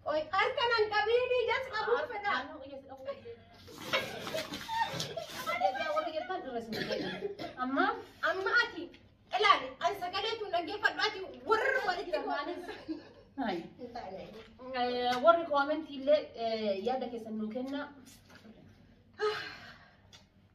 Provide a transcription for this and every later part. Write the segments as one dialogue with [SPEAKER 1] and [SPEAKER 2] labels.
[SPEAKER 1] Qoy harka nan qabiini jas qabuu
[SPEAKER 2] fedha. Amma amma ati
[SPEAKER 1] ilaali an sagalee tun dhaggeeffadhu ati warra walitti
[SPEAKER 2] warri koomentii illee yaada keessan nuu kenna.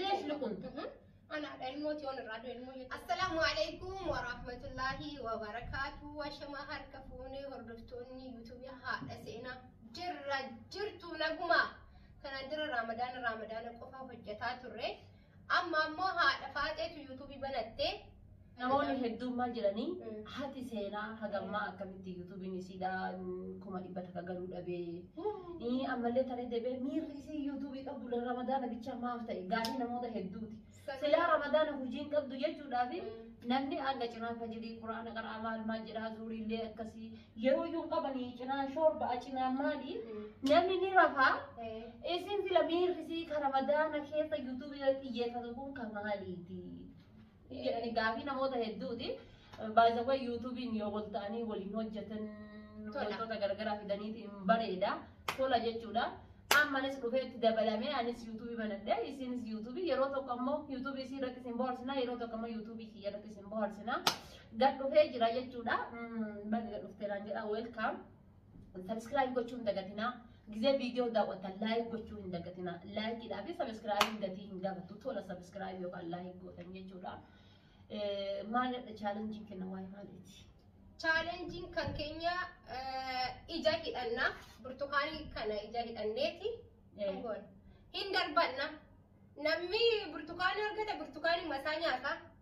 [SPEAKER 1] Reef luqun.
[SPEAKER 2] Anaadha
[SPEAKER 1] ilmoo tiyoon irraa du'e ilmoo jechuudha. Assalaamu alaikum wa rahmatullahi wa barakaatu. Washamaa harka fuunee hordoftoonni yuutuubii haadha seenaa jirra jirtu naguma. Kanaan dura raamadaana raamadaana qofa hojjetaa turre. Amma ammoo haadha faaxeetu yuutuubii banatte. Namoonni
[SPEAKER 2] hedduummaa jiranii hati seenaa hagammaa akkamitti yuutuubiin isiidhaa kuma dhibba takka galuu dhabee ii, ammallee taree deebi'ee miirri isii yuutuubii qabdu la- ramadaana bichaa maaf ta'e gaafii namoota hedduuti. Silaa ramadaana hujiin qabdu jechuudhaafi namni aga cinaa fajirii quraana qara'aa maal maal jedhaa zuuriillee akkasii yeroo iyyuu hin qabanii cinaa shoorba'a cinaa maali namni ni rafaa isin sila miirri isii ka ramadaana keessa yuutuubii irratti xiyyeeffatu kun ka maaliiti? Hin jedhani gaafii namoota hedduuti. By the way YouTube'n yoo wal ta'anii waliin hojjetan Tola. wantoota gargaraa fidaniiti hin bareeda. Tola jechuudha. Ammanis dhufeetti dabalamee anis YouTube banadhe isinis YouTube yeroo tokko ammoo YouTube isii irratti isin bohaarsina yeroo tokko ammoo YouTube kiyya irratti isin bohaarsina. Gad dhufee jira jechuudha. Mm, Baga gad dhufteeraan jedha welcome. Subscribe gochuu hin dagatinaa. Gizee viidiyoo daawwatan like gochuu hin dagatinaa. Like dhaa fi subscribe hin gatii hin gaafatu. Tola subscribe yookaan like gootan jechuudha. Eh, Maalidha challenge kenna waa'ee maaliiti? Challenge
[SPEAKER 1] kan keenya eh, ija hidhanna. Burtukaanii kana ija hidhanneeti. Eh. Kan goone. Hin darbanna. Namni burtukaanii argate burtukaanii masaa nyaata.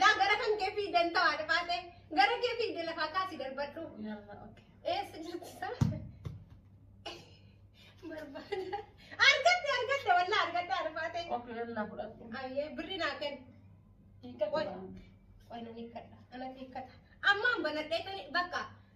[SPEAKER 2] Laa
[SPEAKER 1] gara kan kee fiidan ta'a dhifaatee gara kee fiide lafaa kaasi darbadhu.
[SPEAKER 2] Eessa jirti isaa?
[SPEAKER 1] Barbaada. Argatte argatte wallaa argatte arfaatee.
[SPEAKER 2] Ayyee birri naa
[SPEAKER 1] kenna.
[SPEAKER 2] Qoy
[SPEAKER 1] nan hiikkadha. Anatti hiikkata. Ammaan banadhee tani bakka.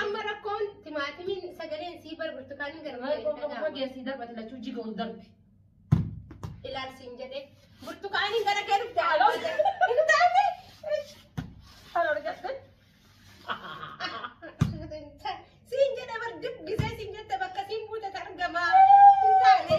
[SPEAKER 1] Amma rakkoon timaatimiin sagaleen sii bar burtukaaniin gara Waa'ee qofa qofa kee asii darbate lachuu
[SPEAKER 2] jiga ol darbe.
[SPEAKER 1] ilaalsiin jedhee burtukaaniin gara kee dhufte Aloo. hin taane.
[SPEAKER 2] Kan argatte.
[SPEAKER 1] Siin jedhe bar dubbisee siin jette bakka siin buute argamaa hin taane.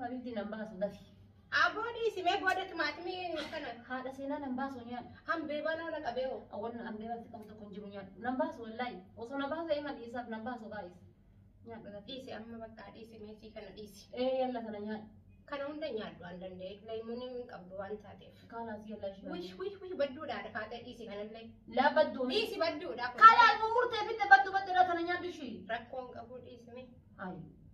[SPEAKER 2] Habiibti nan baasu dafi. Aboo dhiisi
[SPEAKER 1] mee booda timaatimii kana. Haadha seenaa nan baasu
[SPEAKER 2] nyaadhu. Hambeebaa nama na qabee
[SPEAKER 1] hoo. Awwanna hambeebatti qabu
[SPEAKER 2] tokko hin jiru nyaadhu. Nan baasu wallaahi. Osoo na baasee iman dhiisaaf nan baasu gaa'is. Nyaadhu dafi. Dhiisi amma bakka dhiisi
[SPEAKER 1] mee sii kana dhiisi. Ee yalla kana nyaadhu.
[SPEAKER 2] Kana hunda nyaadhu
[SPEAKER 1] waan danda'e. Leemuunii hin qabdu waan taateef. Kaalaas yalla ishee. Wish
[SPEAKER 2] wish wish badduudhaa
[SPEAKER 1] dhafaatee dhiisi kanallee. Laa badduu. Dhiisi
[SPEAKER 2] badduudhaa.
[SPEAKER 1] Kaalaas murteeffitte
[SPEAKER 2] badduu badduu irraa kana nyaadhu ishii. Rakkoon qabuu dhiisi
[SPEAKER 1] mee. Ayi.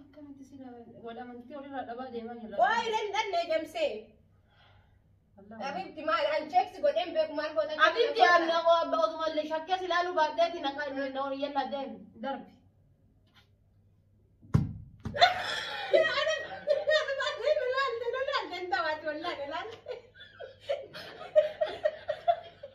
[SPEAKER 2] Akkanatti sila wal amantii walirraa dhabaa deemaa jirra. Waa irra hin dhanne
[SPEAKER 1] jamsee. Abibti maal an cheeks godheen beeku maal goota cheeks Abitti godha. aanna koo
[SPEAKER 2] abba otuma illee shakkee si ilaaluu baadheeti na kan na horiyyeen na deemu. Darbi.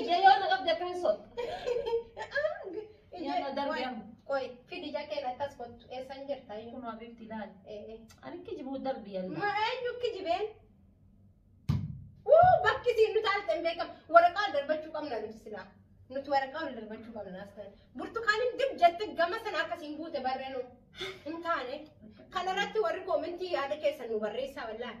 [SPEAKER 1] Ija yoo na
[SPEAKER 2] qabde akkan so. Yaa na darbe amma. Qoy, fidi jakeen
[SPEAKER 1] akkas kottu. Eessan jirta iyyuu. Kunoo bifti ilaali. Eh,
[SPEAKER 2] eh. Ani kijibuu darbi yalla. Ma eenyu kijibeen?
[SPEAKER 1] Wuu bakki isiin nu taalte hin beekamu. Waraqaa ol darbachuu qabna nuti silaa. Nuti waraqaa ol darbachuu qabna as ta'e. Burtukaaniin dib jette gama sana akkasiin buute barree nu hin taane. Kanarratti warri koomentii yaada keessan nu barreessaa wallaahi.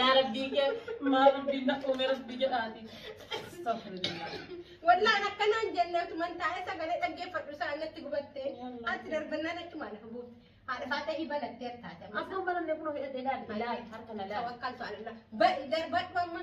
[SPEAKER 1] yaa rabbii kee
[SPEAKER 2] maa rabbii na uume rabbii jedhaati astagfirullah Wallaan
[SPEAKER 1] akkanaan jennee utuman taa'ee sagalee dhaggeeffadhu isaa natti gubatte. Ati darbannaan achumaan lafa buute. Haadha faata hiba lattee taate. Akka hin baranne kun hidhatee
[SPEAKER 2] daadhi. Tawakkal ta'ala.
[SPEAKER 1] Darbadhu amma.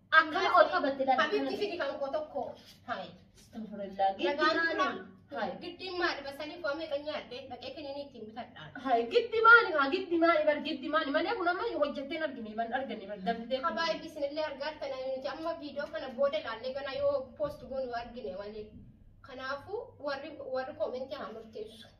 [SPEAKER 1] Akkana ol
[SPEAKER 2] qabatte laata? Habiibti fidi kan koo
[SPEAKER 1] tokko. Hayi. Astagfirullah. Nagaan
[SPEAKER 2] Giddi maali? furaa. Hayi. Giddiin maali? Basanii
[SPEAKER 1] koo meeqa nyaatte? Dhaqee kiniinii ittiin bitadhaan. Hayi giddi maali?
[SPEAKER 2] Haa giddi maali? Bar giddi maali? Malee kun amma hojjettee hin argine ban argine bar dafitee. Habaa ibbisin illee argaa
[SPEAKER 1] tana nuti amma viidiyoo kana booda ilaallee gana yoo poost goonu argine malee. Kanaafuu warri warri koomentii haa murteessu.